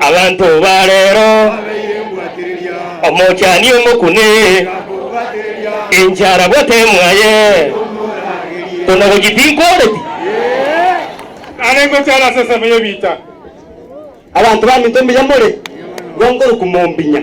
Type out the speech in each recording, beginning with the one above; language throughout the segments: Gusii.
Abanto ba reero, omochani omokune, enchara bwate emwaye, kona gochia tinkoreti. Are ngochara ase ensemo y'ebiita. Abanto baminto mbuya more, bwango orokwa mombinya.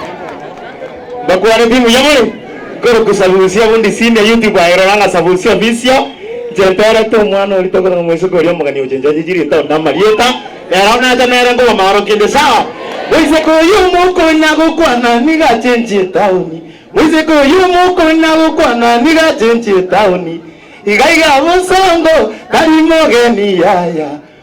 Mbakwane pi buya more nkorokwa Sabusia obundi senior YouTube aye rora ng'a Sabusia official inche ntorete omwana oria tokora ng'a mwesuka oria omogania gocha nchachechi ritaoni na amarieta ere oo nacha nere nkogoma aro kende sawa moiseke oyio omokonya gokwana nigo achenchie etaoni moiseke oyio omokonya gokwana nigo achenchie etaoni iga iga bosongo tari mogeni yaya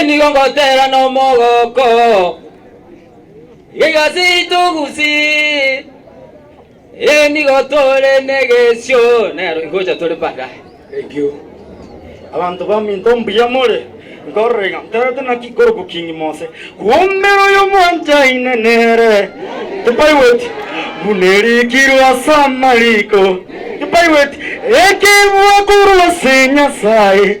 Inigo ngoteera nomogooko, Egasi togusi, inigo tore negesio, nero ingocha tore baadaye. Thank you. Abanto baminto mbuya more, nkorora iga nterete naki ikorokwa King Mose, Kuombera oyomwanchaine nere, tibaigweti, buna erikirwe ase amariko, tibaigweti, ekebua korwa ase Nyasae.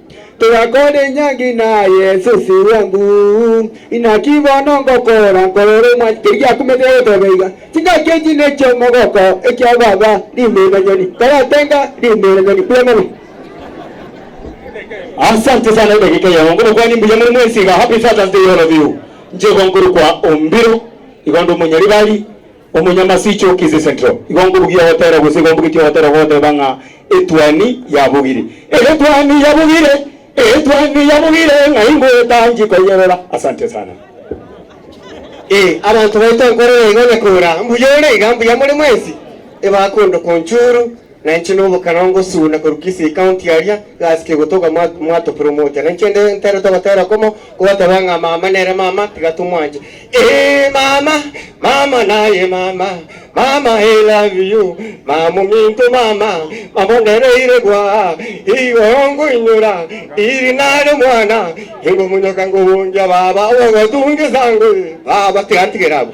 Togakora enyangi na Yeso ase obwango, Inaki bono ngokora nkorora omwanya, keri giakumete goteba iga, Chingaki echi nech'omogoko ekia baba, rimenanyoni, taratenga rimenanyoni buna mono. Asante sana edageka eye abongo mokwane mbuya muri mwensi iga happy fathers day all of you nchego nkorokwa ombiro igo ndi omonyaribari Omonyamasiche o Kisii Central, igo nkobugia ogotera gose igo mbugetie ogotera ogoteba ng'a etuoni yabugire, etuoni yabugire, etuoni yabugire ng'a ingoeta nchie koyerora. Asante sana. Ee, abanto baito nkorora igo na kora, Mbuya ore iga, mbuya more mwensi, ebakunduka onchuru. Na inche nomokana ngosuna korwa Kisii County aria, gasi kegotoka mwatopromoter, na inche nde ntere togotera komo, kobateba ng'a mama nere mama, tiga tomwanche. Eeh mama, mama naye mama, mama I love you, mama ominto mama, mama ondereire gwaa, igooo ngoinyora, iri nare mwana, ingomonyoka ngobongia baba, obogotunge sango ee, baba tiga ntigere abwo.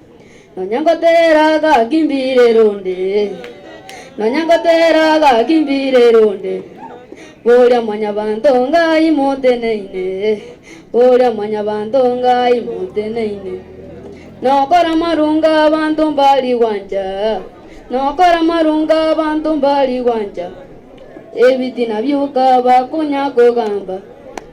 Nonya ngoteera agaki mbiirera onde, Nonya ngoteera agaki mbiirera onde, Boria Mwanyabaanto Ngai moteneine, Boria Mwanyabaanto Ngai moteneine. Nokora amarungo abanto mbari gwancha, Nokora amarungo abanto mbari gwancha, Ebitina bioka bakonya kogamba.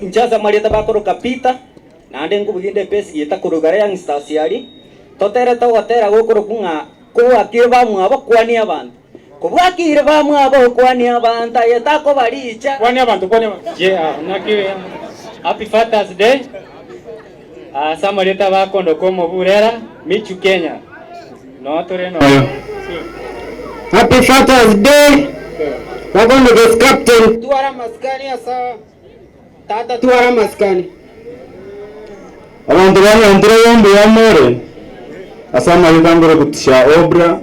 Inche ase amarieta bakoroka Peter, naende ngubugie inde epesi gieta korwa igoro y'Youngstas aria, toterete ogotera gokorokwa ng'a kobwakire bamwabo kwania abanto. Kobwakire bamwabo kwania abanto, aye takoba riicha. Kwania abanto, kwania abanto. Happy Fathers Day. Ase amarieta bakondoka omo Burera, Michu, Kenya. Nonya tore noyo. Happy Fathers Day bakondoka ase Captain. Twara amasikani ase tata twara amasikani. Abanto banyantire oyo mbuya more ase amarieta ngoroku Tisha Obra.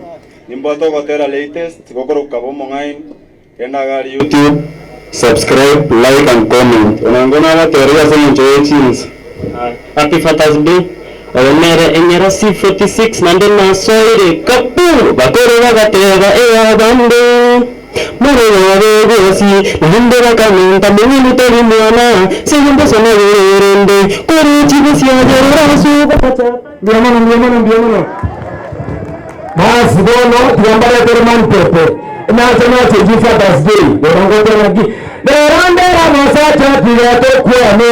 Nimboto ogotera latest gokoroku kaba omong'aini. YouTube, subscribe, like and comment ona ingo nabateerire ase eng'encho ye chinse. Happy Fathers Day. Oyo nere enyara C46 naende nasoire kapuu! Bakoro bagateeba ee abande more bobe bwesi naende bakamenta mong'ina tari mwana, sege mbosa nagere erende kore chibe siagerera ase obogata. Mbuya mono, mbuya mono, mbuya mono. Basi bono tiga mbarete romani pepe. Nache nache inche Father's Day. Bono ngote ng'aki? Rero ndere omosacha tiga tokwane.